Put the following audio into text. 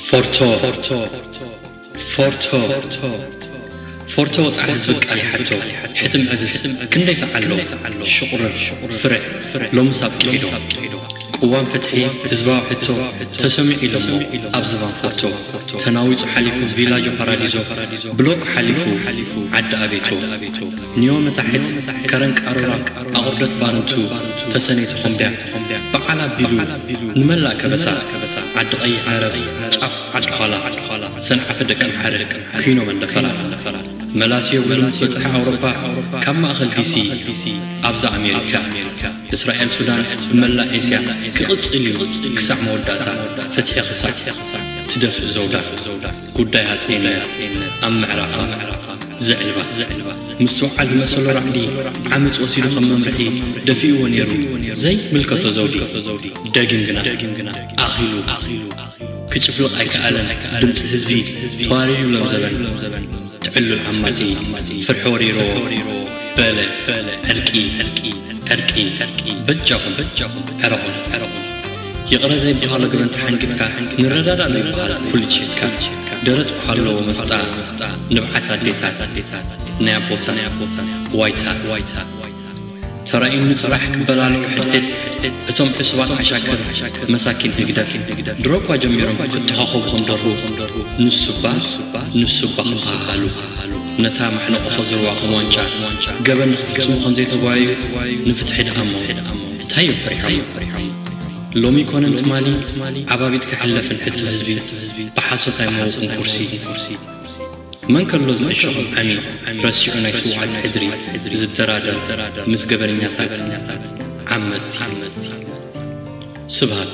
ፎርቶ ፎርቶ ፎርቶ ወጽዓ ህዝቢ ቃል ይሓቶ ሕትም ዕብስ ክንደይ ሰዓሎ ሽቑርር ፍርዕ ሎምስ ኣብቂዒዶ ቅዋም ፍትሒ ህዝባዊ ሕቶ ተሰሚዑ ኢሎሞ ኣብ ዝባን ፎርቶ ተናዊጹ ሓሊፉ ቪላጆ ፓራዲዞ ብሎክ ሓሊፉ ዓዲ ኣቤቶ ኒዮ ንታሕት ከረን ቃሮራ ኣቑርደት ባረንቱ ተሰነይ ተኾምብያ በዓል ኣቢሉ ንመላእ ከበሳ ዓዲ ቀይሕ መረብ ጫፍ ዓዲ ዃላ ሰንዓፈ ደቂ ኣምሓረ ኩይኖም ኣንደፈራ መላስዮ እውን በጽሐ ኣውሮፓ ካብ ማእኸል ዲሲ ኣብዛ ኣሜሪካ እስራኤል ሱዳን መላእ ኤስያ ክቕጽል እዩ ክሳዕ መወዳእታ ፍትሒ ክሳዕ ትደፍእ ዘውዳ ጉዳይ ሃጸይነት ኣብ ምዕራፋ ዘዕልባ ምስትውዓል ዝመሰሎ ራዕዲ ዓመጽ ወሲዱ ከም መምርሒ ደፊኡዎ ነይሩ ዘይምልከቶ ዘውዲ ደጊም ግና ኣኺሉ ክጭፍልቕ ኣይከኣለን ድምጺ ህዝቢ ተዋሪዱ ሎም ዘበን ትዕሉል ዓማጺ ፍርሒ ወሪሩዎ በለ ዕርቂ ዕርቂ በጃኹም ዕረቑ ይቕረ ዘይበሃሎ ገበን ተሓንጊጥካ ንረዳዳእ ዘይበሃል ኩሉ ትሸትካ ደረት እኳ ኣለዎ መስጣ ንብዓት ኣዴታት ናይ ኣቦታት ዋይታ ተራእዩኒ ጽባሕ ክበላልዑ ሕድሕድ እቶም ዕሱባት ዓሻክር መሳኪን ህግደፍ ድሮ እኳ ጀሚሮም ክተኻኸቡ ከም ደርሁ ንሱባ ንሱባ ክበሃሃሉ ነታ ማሕነቖ ከዝርዋ ከም ዋንጫ ገበን ንኽፍጽሙ ከም ዘይተጓየዩ ንፍትሒ ደኣሞ እንታይ እዮም ፈሪሖም ሎሚ ኮነ ትማሊ ዓባቢት ክሕለፍን ሕቶ ህዝቢ ብሓሶት ኣይመወቁን ቁርሲ መን ከሎ ዝዕሸኹም ዓሚ ረሲዑ ናይ ስውዓት ሕድሪ ዝደራደር ምስ ገበነኛታት ዓመጽቲ ስብሃት